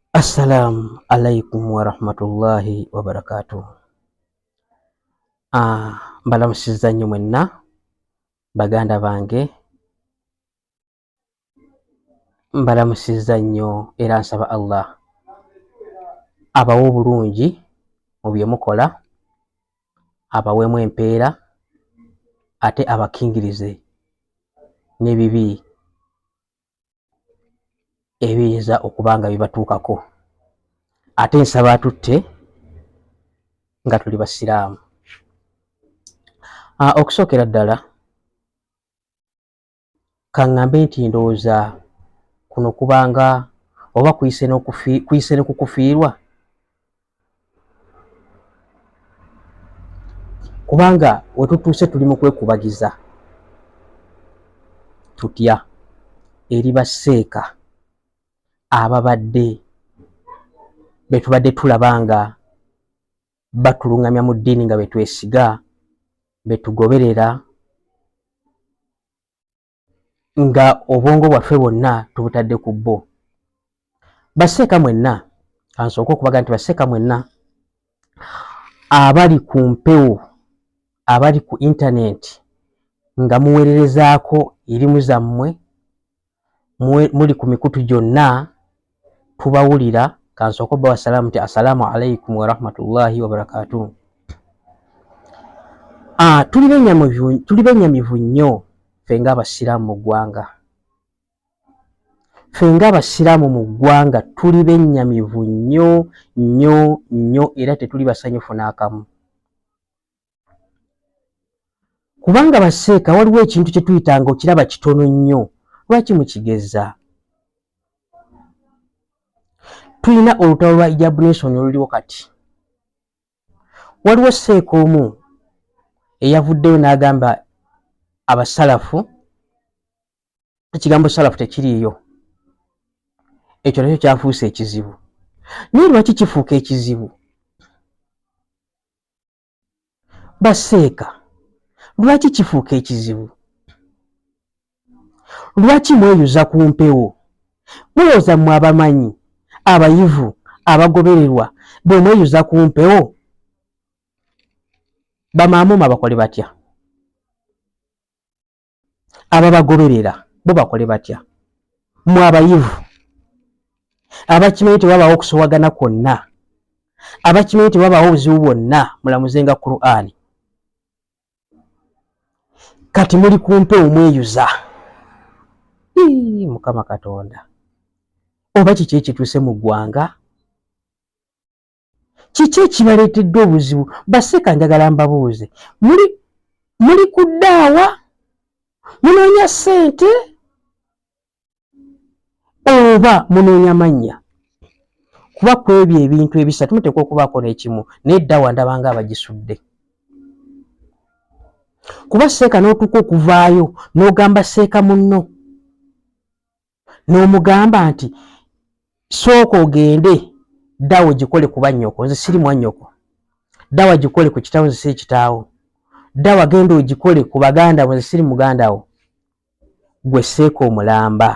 Assalamu alaikum warahmatullahi wabarakatuh. Ah, mbalamusiza nnyo mwenna baganda bange, mbalamusiza nnyo era nsaba Allah abawe obulungi mu bye mukola, abaweemu empeera ate abakingirize n'ebibi ebiyinza okuba nga bibatuukako ate nsaba atutte nga tuli basiraamu ah, okusookera ddala kaŋŋambe nti ndowooza kuno kubanga oba kuyise ne kukufiirwa kubanga wetutuuse tuli mu kwekubagiza tutya eri baseeka ababadde betubadde tulaba nga batulungamya mu ddiini nga betwesiga betugoberera nga obwongo bwaffe bwonna tubutadde ku bo baseeka mwenna kansooka okubaga nti baseeka mwenna abali ku mpewo abali ku intanenti nga muweererezaako erimu zammwe muli ku mikutu gyonna tubawulira kansooka obba wasalaamu nti assalaamu alaikum warahmatullahi wabarakatuh ah, tuli benyamivu nnyo fe nga abasiraamu mu ggwanga fe nga abasiraamu mu ggwanga tuli benyamivu nnyo nnyo nnyo era tetuli basanyufu n'akamu kubanga baseeka waliwo ekintu kye tuyitanga okiraba kitono nnyo lwaki mukigeza tulina olutalo lwa ijabunesoni oluliwo kati waliwo seeka omu eyavuddeyo n'agamba abasalafu ekigambo salafu tekiriiyo ekyo nakyo kyafuuse ekizibu naye lwaki kifuuka ekizibu baseeka lwaki kifuuka ekizibu lwaki mweyuza ku mpewo mulowooza mwe abamanyi abayivu abagobererwa bwe mweyuza ku mpewo bamaamuma bakole batya ababagoberera bo bakole batya mwe abayivu abakimanyi tewabaawo okusowagana kwonna abakimanyi tewabaawo obuzibu bwonna mulamuzenga qur'ani kati muli kumpe omweyuza mukama katonda oba kiki ekituuse mu ggwanga kiki ekibaleetedde obuzibu baseeka njagala mbabuuze muli muli kuddaawa munoonya ssente oba munoonya mannya kuba ku ebyo ebintu ebisatu muteekwa okubaako n'ekimu naye ddaawa ndaba nga abagisudde kuba seeka n'otuuka okuvaayo n'ogamba seeka munno n'omugamba nti sooka ogende ddawo gikole kuba nnyoko nze siri mwa nnyoko ddawa gikole ku kitaawo nze siri kitaawo ddawa genda ogikole ku baganda bo nze siri muganda wo gwe seeka omulamba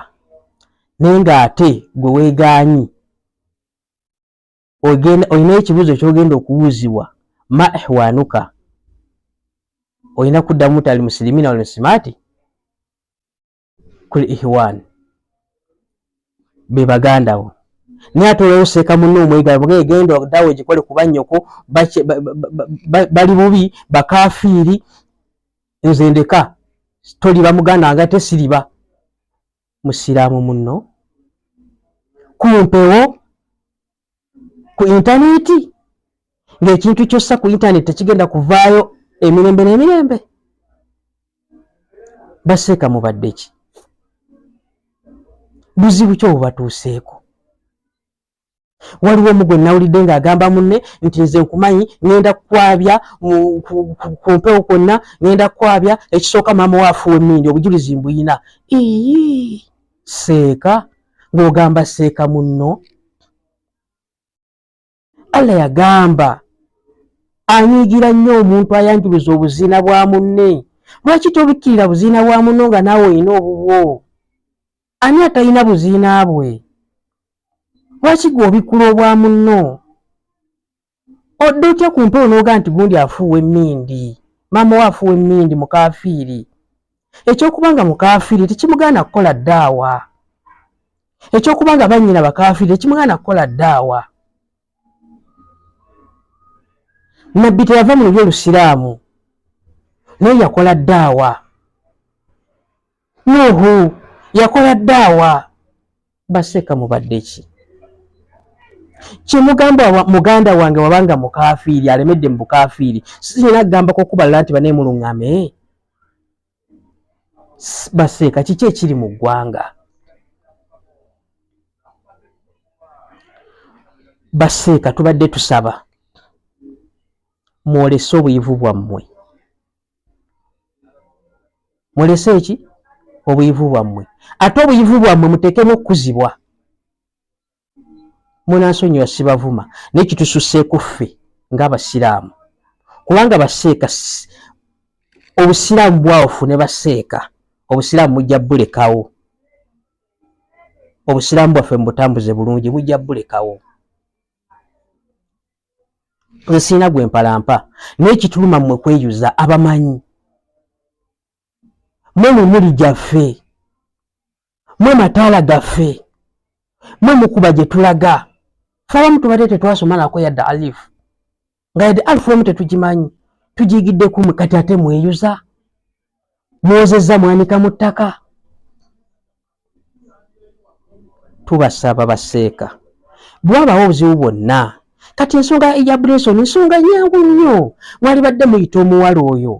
naye ng'ate gwe weegaanyi olina ekibuuzo kyogenda okuwuuzibwa ma ehwanuka olina kuddamu tali musilimina olmusimaati kuli ihwani bebagandawo naye ate olwoseeka munne omwegala buga egenda dawe gikole kuba nyoko bali bubi bakafiiri nze ndeka toliba muganda wange ate siriba musiraamu munno kumpewo ku intaneti ng'ekintu kyossa ku intaneti tekigenda kuvaayo emirembe n'emirembe baseeka mubadde ki buzibu ki obubatuuseeko waliwo omu gwe nawulidde ng'agamba munne nti nze nkumanyi ŋenda kukwabya ku mpewo kwonna ŋenda kukwabya ekisooka maama waafuwa emmindi obujulizi mbuyina ii seeka ng'ogamba seeka munno allah yagamba anyiigira nnyo omuntu ayanjuluza obuziina bwa munne lwaki tobikkirira buziina bwa munno nga naawe olina obubwo ani atalina buziina bwe lwaki gwe obikkula obwa munno odda otya ku mpewo n'ogaa nti gundi afuuwa emmindi maama we afuuwa emmindi mukaafiiri ekyokuba nga mukaafiiri tekimugaana kukola ddaawa ekyokuba nga bannyina bakaafiiri tekimugaana kukola ddaawa nabbi teyava mu lulyo olusiraamu naye yakola ddaawa Nuhu yakola daawa baseka mubadde ki kyemugamba muganda wange wabanga mukafiiri alemedde mu bukafiiri sirina kugambako okubalala nti banaye muluŋame baseeka kiki ekiri mu ggwanga baseeka tubadde tusaba mwolese obuyivu bwammwe mulese eki obuyivu bwammwe ate obuyivu bwammwe muteekemu okukuzibwa munansonyiwa sibavuma naye kitususseeku ffe ngaabasiraamu kubanga baseeka obusiraamu bwawufu ne baseeka obusiraamu mujja bulekawo obusiraamu bwaffe mubutambuze bulungi mujja bulekawo nsiina gwe mpalampa naye kituluma mmwe kweyuza abamanyi mwe mumuli gyaffe mwe mataala gaffe mwe mukuba gye tulaga fe abamu tubadde tetwasoma nako yadde alifu nga yadde alifu emu tetugimanyi tugiyigidde kumu kati ate mweyuza mwozezza mwanika mu ttaka tubasaba baseeka bwabawo obuzibu bwonna kati ensonga ya brenson nsonga nyangu nnyo mwalibadde muyita omuwala oyo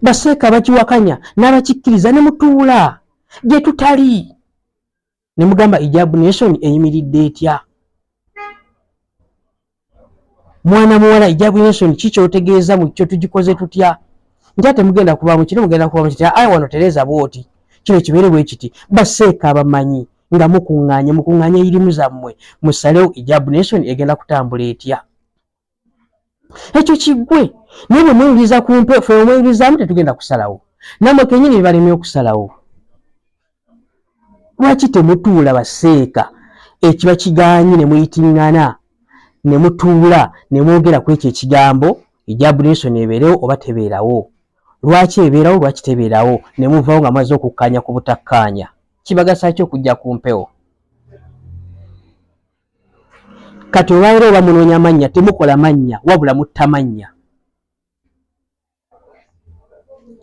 baseeka bakiwakanya n'abakikkiriza ne mutuula gye tutali ne mugamba ejab nation eyimiridde etya mwana muwala ijabu yensoni kikyotegeeza mu kyo tugikoze tutya nja temugenda kubamu kino mugenda kubamu kiti ayi wano tereza bwoti kino kibeere bwe kiti baseeka abamanyi nga mukuŋŋaanye mukuŋŋaanye irimu zammwe musalewo ijabu nensoni egenda kutambula etya ekyo kiggwe naye bwe mweyuliza ku mpe fe omweyulizaamu tetugenda kusalawo namwe kenyini bibalemye okusalawo lwaki temutuula baseeka ekiba kigaanyi ne muyitingana ne mutuula ne mwogera ku ekyo ekigambo egya bulinsoni ebeerewo oba tebeerawo lwaki ebeerawo lwaki tebeerawo ne muvawo nga mwaze okukkaanya ku butakkaanya kibagasa ki okujja ku mpewo kati olwalero oba munoonya mannya temukola mannya wabula mutta mannya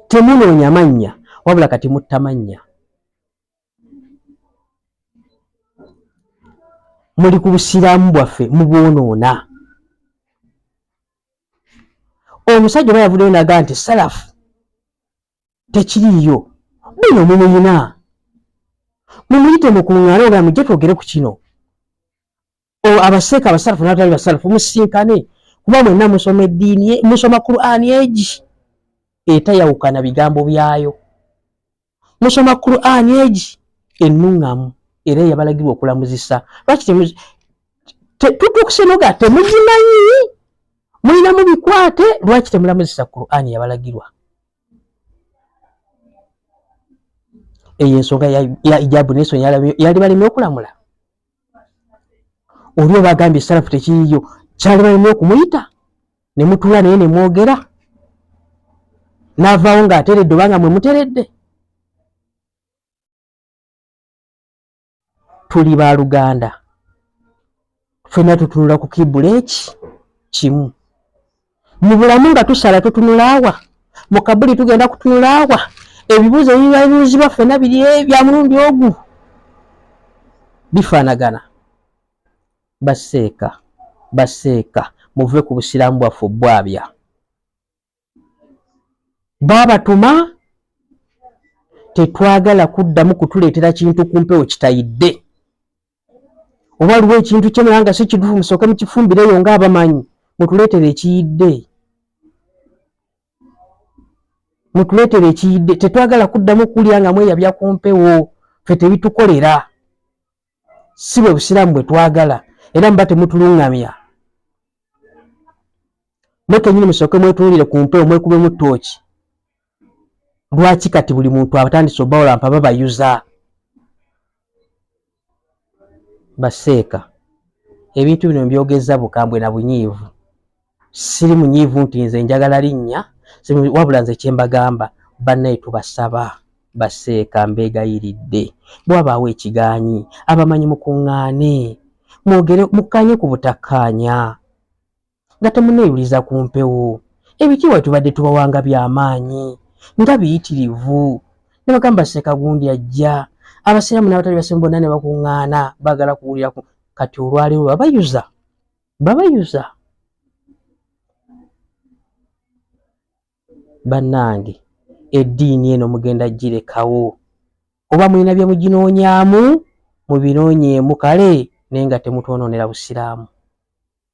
temunoonya mannya wabula kati mutta mannya muli ku busiraamu bwaffe mubwonoona omusajja oba yavuddeyo naga nti salafu tekiriiyo bino mumuyina mumuyite mukuŋŋaana oba mujje twogere ku kino abaseeka abasalafu nabatali basalafu musisinkane kuba mwenna musoma eddiini musoma qurani egi etayawukana bigambo byayo musoma qurani egi ennuŋŋamu era eyabalagirwa okulamuzisa lwaki tutukusenoga temugimanyi mulina mu bikwate lwaki temulamuzisa qurani yabalagirwa eyo ensonga ya ijabu nesonyi yali baleme okulamula oli oba agambye salafu tekiyiyo kyalibalina okumuyita nemutula naye nemwogera navaawo nga ateredde obanga mwe muteredde tuli ba luganda fena tutunula ku kibula eki kimu mu bulamu nga tusala tutunulaawa mu kabuli tugenda kutunulaawa ebibuuzo ebibabuuzibwa ffena biri bya mulundi ogu bifaanagana baseeka baseeka muve ku busiraamu bwaffe obwabya baabatuma tetwagala kuddamu kutuleetera kintu ku mpewo kitayidde oba aliwo ekintu kye naye nga si kituufu musooke mukifumbireyo nga abamanyi mutuleetere ekiyidde mutuleetere ekiyidde tetwagala kuddamu kulya nga mweyabya ku mpewo fe tebitukolera si bwe busiraamu bwe twagala era muba temutuluŋŋamya mwe kenyini musooke mwetunuulire ku mpewo mwekubemu ttooki lwaki kati buli muntu abatandise obaolampa babayuza baseeka ebintu bino mbyogeza bukambwe na bunyiivu siri munyiivu nti nze njagala linnya wabula nze kyembagamba bannaye tubasaba baseeka mbeegayiridde bwabaawo ekigaanyi abamanyi mukuŋŋaane mwogere mukkaanye ku butakkaanya nga temuneeyuliza ku mpewo. Ebitiibwa tubadde tubawa nga bya maanyi, nga biyitirivu. Ne bagamba Ssekagundi ajja. Abasiraamu n'abatali Basiraamu bonna ne bakuŋŋaana baagala kuwulira ku kati olwaleero babayuza babayuza bannange eddiini eno mugenda girekawo oba mulina bye muginoonyaamu mubinoonyeemu kale naye nga temutwonoonera busiraamu